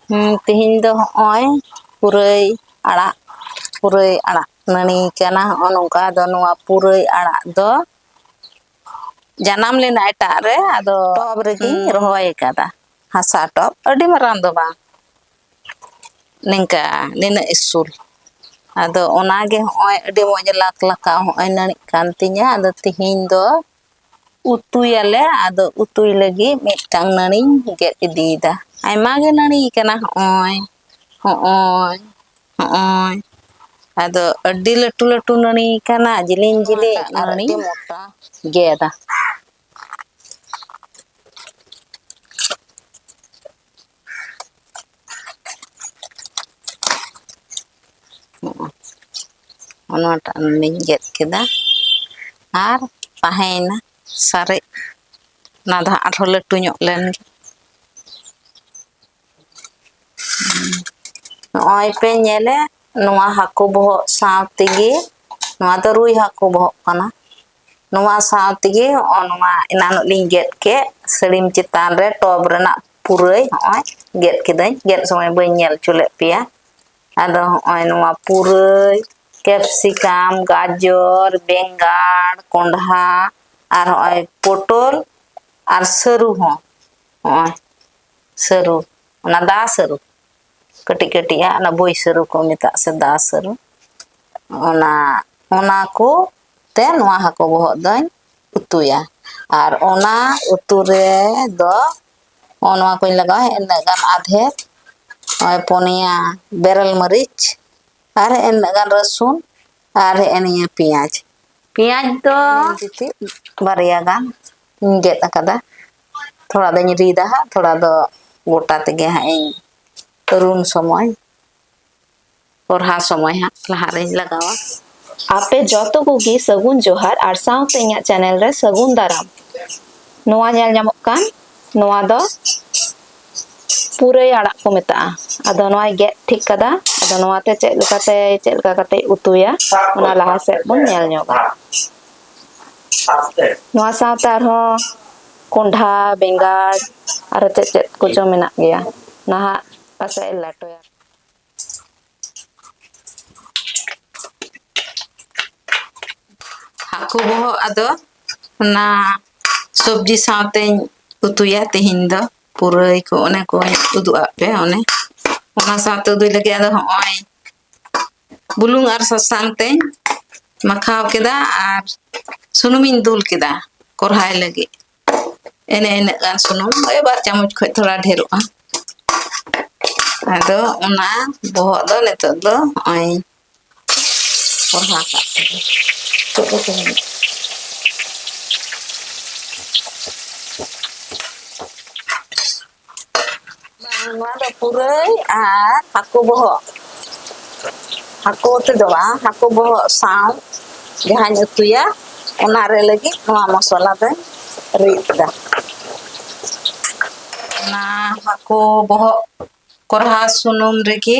ᱦᱮᱸ ᱛᱮᱦᱮᱧ ᱫᱚ ᱦᱚᱜᱼᱚᱭ ᱯᱩᱨᱟᱹᱭ ᱟᱲᱟᱜ ᱯᱩᱨᱟᱹᱭ ᱟᱲᱟᱜ ᱱᱟᱹᱲᱤ ᱠᱟᱱᱟ ᱦᱚᱜᱼᱚᱭ ᱱᱚᱝᱠᱟ ᱟᱫᱚ ᱱᱚᱣᱟ ᱯᱩᱨᱟᱹᱭ ᱟᱲᱟᱜ ᱫᱚ ᱡᱟᱱᱟᱢ ᱞᱮᱱᱟ ᱮᱴᱟᱜ ᱨᱮ ᱟᱫᱚ ᱴᱚᱵ ᱨᱮᱜᱤᱧ ᱨᱚᱦᱚᱭ ᱟᱠᱟᱫᱟ ᱦᱟᱥᱟ ᱴᱚᱵ ᱟᱹᱰᱤ ᱢᱟᱨᱟᱝ ᱫᱚ ᱵᱟᱝ ᱱᱤᱝᱠᱟ ᱱᱤᱱᱟᱹᱜ ᱤᱥᱩᱞ ᱟᱫᱚ ᱚᱱᱟᱜᱮ ᱦᱚᱜᱼᱚᱭ ᱟᱹᱰᱤ ᱢᱚᱡᱽ ᱞᱟᱠᱷ ᱞᱟᱠᱷᱟᱣ ᱦᱚᱜᱼᱚᱭ ᱱᱟᱹᱲᱤᱜ ᱠᱟᱱ ᱛᱤᱧᱟᱹ ᱟᱫᱚ ᱛᱮᱦᱮᱧ ᱫᱚ ᱩᱛᱩᱭᱟᱞᱮ ᱟᱫᱚ ᱩᱛᱩᱭ ᱞᱟᱹᱜᱤᱫ ᱢᱤᱫᱴᱟᱝ ᱱᱟᱹᱲᱤᱧ ᱜᱮᱫ ᱤᱫᱤᱭᱮᱫᱟ ᱟᱭᱢᱟ ᱜᱮ ᱱᱟᱹᱲᱤ ᱠᱟᱱᱟ ᱦᱚᱜᱼᱚᱭ ᱦᱚᱜᱼᱚᱭ ᱦᱚᱜᱼᱚᱭ ᱟᱫᱚ ᱟᱹᱰᱤ ᱞᱟᱹᱴᱩ ᱞᱟᱹᱴᱩ ᱱᱟᱹᱲᱤ ᱠᱟᱱᱟ ᱡᱤᱞᱤᱧ ᱡᱤᱞᱤᱧ ᱟᱨ ᱟᱹᱰᱤ ᱢᱚᱴᱟ ᱜᱮᱫᱟ ᱚᱱᱟᱴᱟᱜ ᱞᱤᱧ ᱜᱮᱫ ᱠᱮᱫᱟ ᱟᱨ ᱛᱟᱦᱮᱸᱭᱮᱱᱟ ᱥᱟᱨᱮᱡ ᱚᱱᱟ ᱫᱚ ᱦᱟᱸᱜ ᱟᱨᱦᱚᱸ ᱞᱟᱹᱴᱩ ᱧᱚᱜ ᱞᱮᱱ ᱜᱮ ᱱᱚᱜᱼᱚᱭ ᱯᱮ ᱧᱮᱞᱮ ᱱᱚᱣᱟ ᱦᱟᱹᱠᱩ ᱵᱚᱦᱚᱜ ᱥᱟᱶ ᱛᱮᱜᱮ ᱱᱚᱣᱟ ᱫᱚ ᱨᱩᱭ ᱦᱟᱹᱠᱩ ᱵᱚᱦᱚᱜ ᱠᱟᱱᱟ ᱱᱚᱣᱟ ᱥᱟᱶ ᱛᱮᱜᱮ ᱦᱚᱜᱼᱚᱭ ᱱᱚᱣᱟ ᱮᱱᱟᱱᱚᱜ ᱞᱤᱧ ᱜᱮᱫ ᱠᱮᱫ ᱥᱟᱹᱲᱤᱢ ᱪᱮᱛᱟᱱ ᱨᱮ ᱴᱚᱯ ᱨᱮᱱᱟᱜ ᱯᱩᱨᱟᱹᱭ ᱦᱚᱜᱼᱚᱭ ᱜᱮᱫ ᱠᱤᱫᱟᱹᱧ ᱜᱮᱫ ᱥᱚᱢᱚᱭ ᱵᱟᱹᱧ ᱧᱮᱞ ᱦᱚᱪᱚ ᱞᱮᱫ ᱯᱮᱭᱟ ᱟᱫᱚ ᱦᱚᱜᱼᱚᱭ ᱱᱚᱣᱟ ᱯᱩᱨᱟᱹᱭ ᱠᱮᱯᱥᱤᱠᱟᱢ ᱜᱟᱡᱚᱨ ᱵᱮᱸᱜᱟᱲ ᱠᱚᱸᱰᱷᱟ ᱟᱨ ᱦᱚᱜᱼᱚᱭ ᱯᱚᱴᱚᱞ ᱟᱨ ᱥᱟᱹᱨᱩ ᱦᱚᱸ ᱦᱚᱜᱼᱚᱭ ᱥᱟᱹᱨᱩ ᱚᱱᱟ ᱫᱟ ᱥᱟᱹᱨᱩ ᱠᱟᱹᱴᱤᱡ ᱠᱟᱹᱴᱤᱡᱟᱜ ᱚᱱᱟ ᱵᱟᱹᱭ ᱥᱟᱹᱨᱩ ᱠᱚ ᱢᱮᱛᱟᱜ ᱥᱮ ᱫᱟ ᱥᱟᱹᱨᱩ ᱚᱱᱟ ᱚᱱᱟ ᱠᱚ ᱛᱮ ᱱᱚᱣᱟ ᱦᱟᱹᱠᱩ ᱵᱚᱦᱚᱜ ᱫᱚᱧ ᱩᱛᱩᱭᱟ ᱟᱨ ᱚᱱᱟ ᱩᱛᱩ ᱨᱮᱫᱚ ᱱᱚᱜᱼᱚ ᱱᱚᱣᱟ ᱠᱚᱧ ᱞᱟᱜᱟᱣᱟ ᱤᱱᱟᱹᱜ ᱜᱟᱱ ᱟᱫᱷᱮ ᱱᱚᱜᱼᱚᱭ ᱯᱩᱱᱭᱟ ᱵᱮᱨᱮᱞ ᱢᱟᱹᱨᱤᱪ ᱟᱨ ᱤᱱᱟᱹᱜ ᱜᱟᱱ ᱨᱟᱹᱥᱩᱱ ᱟᱨ ᱦᱮᱸᱜᱼᱮ ᱱᱤᱭᱟᱹ ᱯᱮᱸᱭᱟᱡᱽ ᱯᱮᱸᱭᱟᱡᱽ ᱫᱚ ᱡᱩᱫᱤ ᱵᱟᱨᱭᱟ ᱜᱟᱱ ᱤᱧ ᱜᱮᱫ ᱟᱠᱟᱫᱟ ᱛᱷᱚᱲᱟ ᱫᱚᱧ ᱨᱤᱫᱟ ᱦᱟᱸᱜ ᱛᱷᱚᱲᱟ ᱫᱚ ᱜᱚᱴᱟ ᱛᱮᱜᱮ ᱦᱟᱸᱜ ᱤᱧ ᱨᱩᱱ ᱥᱚᱢᱚᱭ ᱯᱚᱨᱦᱟ ᱥᱚᱢᱚᱭ ᱦᱟᱸᱜ ᱞᱟᱦᱟ ᱨᱮᱧ ᱞᱟᱜᱟᱣᱟ ᱟᱯᱮ ᱡᱚᱛᱚ ᱠᱚᱜᱮ ᱥᱟᱹᱜᱩᱱ ᱡᱚᱦᱟᱨ ᱟᱨ ᱥᱟᱶᱛᱮ ᱤᱧᱟᱹᱜ ᱪᱮᱱᱮᱞ ᱨᱮ ᱥᱟᱹᱜᱩᱱ ᱫᱟᱨᱟᱢ ᱱᱚᱣᱟ ᱧᱮᱞ ᱧᱟᱢᱚᱜ ᱠᱟᱱ ᱱᱚᱣᱟ ᱫᱚ ᱯᱩᱨᱟᱹᱭ ᱟᱲᱟᱜ ᱠᱚ ᱢᱮᱛᱟᱜᱼᱟ ᱟᱫᱚ ᱱᱚᱣᱟᱭ ᱜᱮᱫ ᱴᱷᱤᱠ ᱠᱟᱫᱟ ᱟᱫᱚ ᱱᱚᱣᱟᱛᱮ ᱪᱮᱫ ᱞᱮᱠᱟᱛᱮ ᱪᱮᱫ ᱞᱮᱠᱟ ᱠᱟᱛᱮ ᱩᱛᱩᱭᱟ ᱚᱱᱟ ᱞᱟᱦᱟ ᱥᱮᱫ ᱵᱚᱱ ᱧᱮᱞ ᱧᱚᱜᱟ ᱱᱚᱣᱟ ᱥᱟᱶᱛᱮ ᱟᱨᱦᱚᱸ ᱠᱚᱸᱰᱷᱟ ᱵᱮᱸᱜᱟᱲ ᱟᱨᱦᱚᱸ ᱪᱮᱫ ᱪᱮᱫ ᱠᱚᱪᱚ ᱢᱮᱱᱟᱜ ᱜᱮᱭᱟ ᱱᱟᱦᱟᱜ ᱯᱟᱥᱮᱡ ᱞᱮᱴᱚᱭᱟ ᱦᱟᱹᱠᱩ ᱵᱚᱦᱚᱜ ᱟᱫᱚ ᱚᱱᱟ ᱥᱚᱵᱡᱤ ᱥᱟᱶᱛᱮᱧ ᱩᱛᱩᱭᱟ ᱛᱮᱦᱮᱧ ᱫᱚ ᱯᱩᱨᱟᱹᱭ ᱠᱚ ᱚᱱᱮ ᱠᱚᱧ ᱩᱫᱩᱜ ᱟᱫ ᱯᱮ ᱚᱱᱮ ᱚᱱᱟ ᱥᱟᱶᱛᱮ ᱩᱫᱩᱭ ᱞᱟᱹᱜᱤᱫ ᱟᱫᱚ ᱦᱚᱸᱜᱼᱚᱭ ᱵᱩᱞᱩᱝ ᱟᱨ ᱥᱟᱥᱟᱝ ᱛᱮᱧ ᱢᱟᱠᱷᱟᱣ ᱠᱮᱫᱟ ᱟᱨ ᱥᱩᱱᱩᱢᱤᱧ ᱫᱩᱞ ᱠᱮᱫᱟ ᱠᱚᱨᱦᱟᱭ ᱞᱟᱹᱜᱤᱫ ᱮᱱᱮ ᱤᱱᱟᱹᱜ ᱜᱟᱱ ᱥᱩᱱᱩᱢ ᱳᱭ ᱵᱟᱨ ᱪᱟᱢᱚᱪ ᱠᱷᱚᱡ ᱛᱷᱚᱲᱟ ᱰᱷᱮᱨᱚᱜᱼᱟ ᱟᱫᱚ ᱚᱱᱟ ᱵᱚᱦᱚᱜ ᱫᱚ ᱱᱤᱛᱚᱜ ᱫᱚ ᱱᱚᱜᱼᱚᱭ ᱠᱚᱲᱦᱟ ᱠᱟᱜ ᱠᱟᱱᱟ ᱪᱮᱫ ᱠᱚ ᱛᱟᱦᱮᱱᱟ ᱱᱚᱣᱟ ᱫᱚ ᱯᱩᱨᱟᱹᱭ ᱟᱨ ᱦᱟᱹᱠᱩ ᱵᱚᱦᱚᱜ ᱦᱟᱹᱠᱩ ᱩᱛᱩ ᱫᱚ ᱵᱟᱝ ᱦᱟᱹᱠᱩ ᱵᱚᱦᱚᱜ ᱥᱟᱶ ᱡᱟᱦᱟᱸᱧ ᱩᱛᱩᱭᱟ ᱚᱱᱟ ᱨᱮ ᱞᱟᱹᱜᱤᱫ ᱱᱚᱣᱟ ᱢᱚᱥᱞᱟ ᱫᱚᱧ ᱨᱤᱫ ᱮᱫᱟ ᱚᱱᱟ ᱦᱟᱹᱠᱩ ᱵᱚᱦᱚᱜ ᱠᱚᱨᱦᱟ ᱥᱩᱱᱩᱢ ᱨᱮᱜᱮ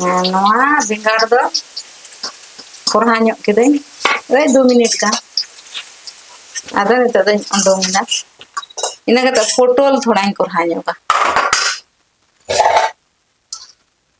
ᱦᱮᱸ ᱱᱚᱣᱟ ᱵᱮᱸᱜᱟᱲ ᱫᱚ ᱠᱚᱨᱦᱟ ᱧᱚᱜ ᱠᱤᱫᱟᱹᱧ ᱳᱭ ᱫᱩ ᱢᱤᱱᱤᱴ ᱜᱟᱱ ᱟᱫᱚ ᱱᱤᱛᱚᱜ ᱫᱚᱧ ᱩᱰᱩᱝ ᱮᱫᱟ ᱤᱱᱟᱹ ᱠᱟᱛᱮᱫ ᱯᱚᱴᱚᱞ ᱛᱷᱚᱲᱟᱧ ᱠᱚᱨᱦᱟ ᱧᱚᱜᱟ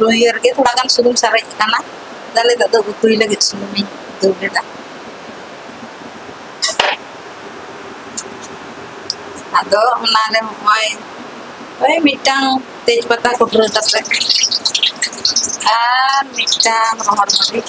ᱞᱩᱭᱦᱟᱹ ᱨᱮᱜᱮ ᱛᱷᱚᱲᱟ ᱜᱟᱱ ᱥᱩᱱᱩᱢ ᱥᱟᱨᱮᱡ ᱟᱠᱟᱱᱟ ᱛᱟᱦᱞᱮ ᱱᱤᱛᱚᱜ ᱫᱚ ᱩᱛᱩᱭ ᱞᱟᱹᱜᱤᱫ ᱥᱩᱱᱩᱢᱤᱧ ᱫᱩᱞ ᱮᱫᱟ ᱟᱫᱚ ᱚᱱᱟᱨᱮ ᱱᱚᱜᱼᱚᱭ ᱳᱭ ᱢᱤᱫᱴᱟᱝ ᱛᱮᱡᱽ ᱯᱟᱛᱟ ᱠᱩᱴᱨᱟᱹ ᱠᱟᱛᱮ ᱟᱨ ᱢᱤᱫᱴᱟᱝ ᱨᱚᱦᱚᱲ ᱢᱟᱹᱨᱤᱪ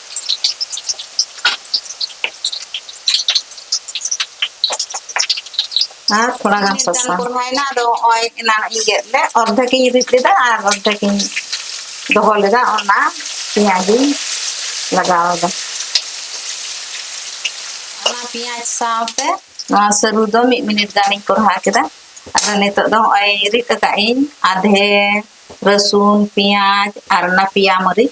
ᱟᱨ ᱛᱷᱚᱲᱟ ᱜᱟᱱ ᱢᱤᱫ ᱜᱟᱱ ᱥᱟᱥᱟᱝ ᱠᱚᱨᱦᱟᱭᱮᱱᱟ ᱟᱫᱚ ᱱᱚᱜᱼᱚᱭ ᱮᱱᱟᱱ ᱤᱧ ᱜᱮᱫ ᱞᱮᱫ ᱚᱨᱫᱷᱮᱠ ᱤᱧ ᱨᱤᱫ ᱞᱮᱫᱟ ᱟᱨ ᱚᱨᱫᱷᱮᱠ ᱤᱧ ᱫᱚᱦᱚ ᱞᱮᱫᱟ ᱚᱱᱟ ᱯᱮᱸᱭᱟᱡᱽ ᱤᱧ ᱞᱟᱜᱟᱣ ᱮᱫᱟ ᱚᱱᱟ ᱯᱮᱸᱭᱟᱡᱽ ᱥᱟᱶᱛᱮ ᱱᱚᱣᱟ ᱥᱟᱹᱨᱩ ᱫᱚ ᱢᱤᱫ ᱢᱤᱱᱤᱴ ᱜᱟᱱᱤᱧ ᱠᱚᱨᱦᱟ ᱠᱮᱫᱟ ᱟᱫᱚ ᱱᱤᱛᱚᱜ ᱫᱚ ᱱᱚᱜᱼᱚᱭ ᱨᱤᱫ ᱟᱠᱟᱫ ᱤᱧ ᱟᱫᱷᱮ ᱨᱟᱹᱥᱩᱱ ᱯᱮᱸᱭᱟᱡᱽ ᱟᱨ ᱚᱱᱟ ᱯᱮᱸᱭᱟ ᱢᱟᱹᱨᱤᱪ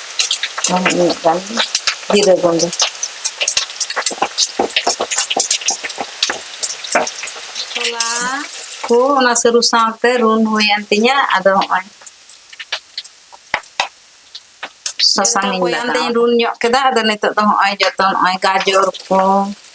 ᱟᱨ ᱢᱤᱫ ᱜᱟᱱ ᱡᱤᱨᱟᱹ ᱜᱩᱰᱟᱹ ᱢᱚᱥᱞᱟ ᱠᱚ ᱚᱱᱟ ᱥᱟᱹᱨᱩ ᱥᱟᱶᱛᱮ ᱨᱩᱱ ᱦᱩᱭᱮᱱ ᱛᱤᱧᱟᱹ ᱟᱫᱚ ᱦᱚᱸᱜᱼᱚᱭ ᱥᱟᱥᱟᱝ ᱤᱧ ᱞᱟᱜᱟᱣ ᱨᱩᱱ ᱧᱚᱜ ᱠᱮᱫᱟ ᱟᱫᱚ ᱱᱤᱛᱚᱜ ᱫᱚ ᱦᱚᱸᱜᱼᱚᱭ ᱡᱚᱛᱚ ᱱᱚᱜᱼᱚᱭ ᱜᱟᱡᱚᱨ ᱠᱚ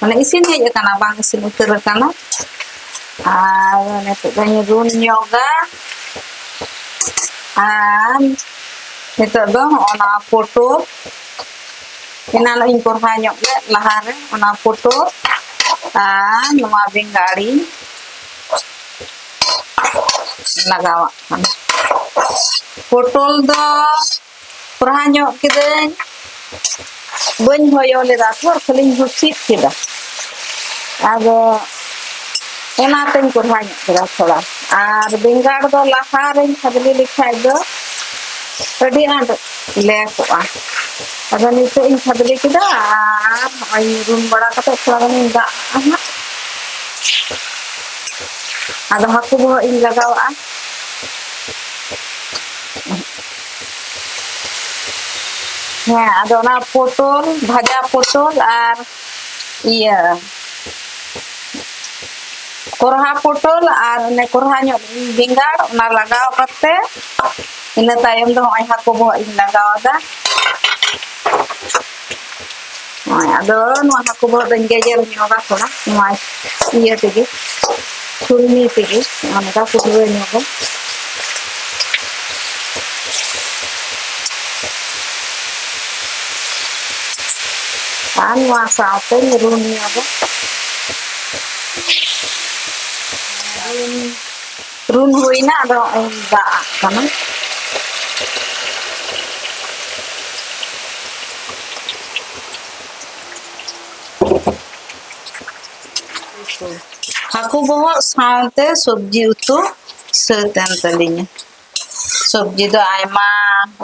ᱢᱟᱱᱮ ᱤᱥᱤᱱ ᱦᱮᱡ ᱟᱠᱟᱱᱟ ᱵᱟᱝ ᱤᱥᱤᱱ ᱩᱛᱟᱹᱨ ᱟᱠᱟᱱᱟ ᱟᱨ ᱱᱤᱛᱚᱜ ᱫᱚᱧ ᱨᱩᱱ ᱧᱚᱜᱟ ᱟᱨ ᱱᱤᱛᱚᱜ ᱫᱚ ᱚᱱᱟ ᱯᱚᱴᱚᱞ ᱮᱱᱟᱱ ᱤᱧ ᱠᱚᱨᱦᱟ ᱧᱚᱜ ᱞᱮᱫ ᱞᱟᱦᱟᱨᱮ ᱚᱱᱟ ᱯᱚᱴᱚᱞ ᱟᱨ ᱱᱚᱣᱟ ᱵᱮᱸᱜᱟᱲᱤᱧ ᱞᱟᱜᱟᱣᱟᱜ ᱠᱟᱱᱟ ᱯᱚᱴᱚᱞ ᱫᱚ ᱯᱨᱟᱦᱟ ᱧᱚᱜ ᱠᱤᱫᱟᱹᱧ ᱵᱟᱹᱧ ᱦᱚᱭᱚ ᱞᱮᱫᱟ ᱛᱷᱚᱨ ᱠᱷᱟᱹᱞᱤᱧ ᱦᱩᱥᱤᱫ ᱠᱮᱫᱟ ᱟᱫᱚ ᱚᱱᱟᱛᱮᱧ ᱠᱚᱲᱦᱟ ᱧᱚᱜ ᱠᱮᱫᱟ ᱛᱷᱚᱲᱟ ᱟᱨ ᱵᱮᱸᱜᱟᱲ ᱫᱚ ᱞᱟᱦᱟ ᱨᱮᱧ ᱠᱷᱟᱫᱽᱞᱤ ᱞᱮᱠᱷᱟᱡ ᱫᱚ ᱟᱹᱰᱤ ᱟᱸᱴ ᱞᱮ ᱠᱚᱜᱼᱟ ᱟᱫᱚ ᱱᱤᱛᱚᱜ ᱤᱧ ᱠᱷᱟᱫᱽᱞᱤ ᱠᱮᱫᱟ ᱟᱨ ᱱᱚᱜᱼᱚᱭ ᱨᱩᱱ ᱵᱟᱲᱟ ᱠᱟᱛᱮ ᱛᱷᱚᱲᱟ ᱜᱟᱱᱤᱧ ᱫᱟᱜ ᱟᱜᱼᱟ ᱦᱟᱸᱜ ᱟᱫᱚ ᱦᱟᱹᱠᱩ ᱵᱚᱦᱚᱜ ᱤᱧ ᱞᱟᱜᱟᱣᱟᱜᱼᱟ ᱦᱮᱸ ᱟᱫᱚ ᱚᱱᱟ ᱯᱚᱴᱚᱞ ᱵᱷᱟᱡᱟ ᱯᱚᱴᱚᱞ ᱟᱨ ᱤᱭᱟᱹ ᱠᱚᱨᱦᱟ ᱯᱚᱴᱚᱞ ᱟᱨ ᱚᱱᱮ ᱠᱚᱨᱦᱟ ᱧᱚᱜ ᱵᱮᱸᱜᱟᱲ ᱚᱱᱟ ᱞᱟᱜᱟᱣ ᱠᱟᱛᱮ ᱤᱱᱟᱹ ᱛᱟᱭᱚᱢ ᱫᱚ ᱱᱚᱜᱼᱚᱭ ᱦᱟᱹᱠᱩ ᱵᱚᱦᱚᱜ ᱤᱧ ᱞᱟᱜᱟᱣ ᱟᱫᱟ ᱱᱚᱜᱼᱚᱭ ᱟᱫᱚ ᱱᱚᱣᱟ ᱦᱟᱹᱠᱩ ᱵᱚᱦᱚᱜ ᱫᱚᱧ ᱜᱮᱡᱮᱨ ᱧᱚᱜᱟ ᱛᱷᱚᱲᱟ ᱱᱚᱣᱟ ᱤᱭᱟᱹ ᱛᱮᱜᱮ ᱪᱷᱩᱞᱱᱤ ᱛᱮᱜᱮ ᱚᱱᱠᱟ ᱠᱩᱴᱨᱟᱹ ᱧᱚᱜᱟ ᱟᱨ ᱱᱚᱣᱟ ᱥᱟᱶᱛᱮ ᱨᱩᱱ ᱧᱚᱜᱟ ᱨᱩᱱ ᱨᱩᱱ ᱦᱩᱭᱱᱟ ᱟᱫᱚ ᱦᱚᱸᱜᱼᱚᱭ ᱫᱟᱜ ᱟᱜ ᱠᱟᱱᱟ ᱦᱟᱹᱠᱩ ᱵᱚᱦᱚᱜ ᱥᱟᱶᱛᱮ ᱥᱚᱵᱽᱡᱤ ᱩᱛᱩ ᱥᱟᱹᱛ ᱮᱱ ᱛᱟᱹᱞᱤᱧᱟ ᱥᱚᱵᱽᱡᱤ ᱫᱚ ᱟᱭᱢᱟ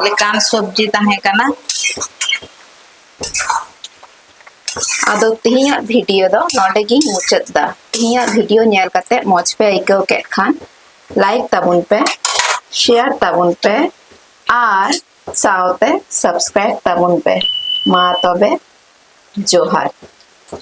ᱞᱮᱠᱟᱱ ᱥᱚᱵᱽᱡᱤ ᱛᱟᱦᱮᱸ ᱠᱟᱱᱟ ᱟᱫᱚ ᱛᱮᱦᱮᱧᱟᱜ ᱵᱷᱤᱰᱤᱭᱳ ᱫᱚ ᱱᱚᱰᱮ ᱜᱤᱧ ᱢᱩᱪᱟᱹᱫ ᱫᱟ ᱛᱮᱦᱮᱧᱟᱜ ᱵᱷᱤᱰᱤᱭᱳ ᱧᱮᱞ ᱠᱟᱛᱮ ᱢᱚᱡᱽ ᱯᱮ ᱟᱹᱭᱠᱟᱹᱣ ᱠᱮᱫ ᱠᱷᱟᱱ ᱞᱟᱭᱤᱠ ᱛᱟᱵᱚᱱ ᱯᱮ ᱥᱮᱭᱟᱨ ᱛᱟᱵᱚᱱ ᱯᱮ ᱟᱨ ᱥᱟᱶᱛᱮ ᱥᱟᱵᱥᱠᱨᱟᱭᱤᱵ ᱛᱟᱵᱚᱱ ᱯᱮ ᱢᱟ ᱛᱚᱵᱮ ᱡᱚᱦᱟᱨ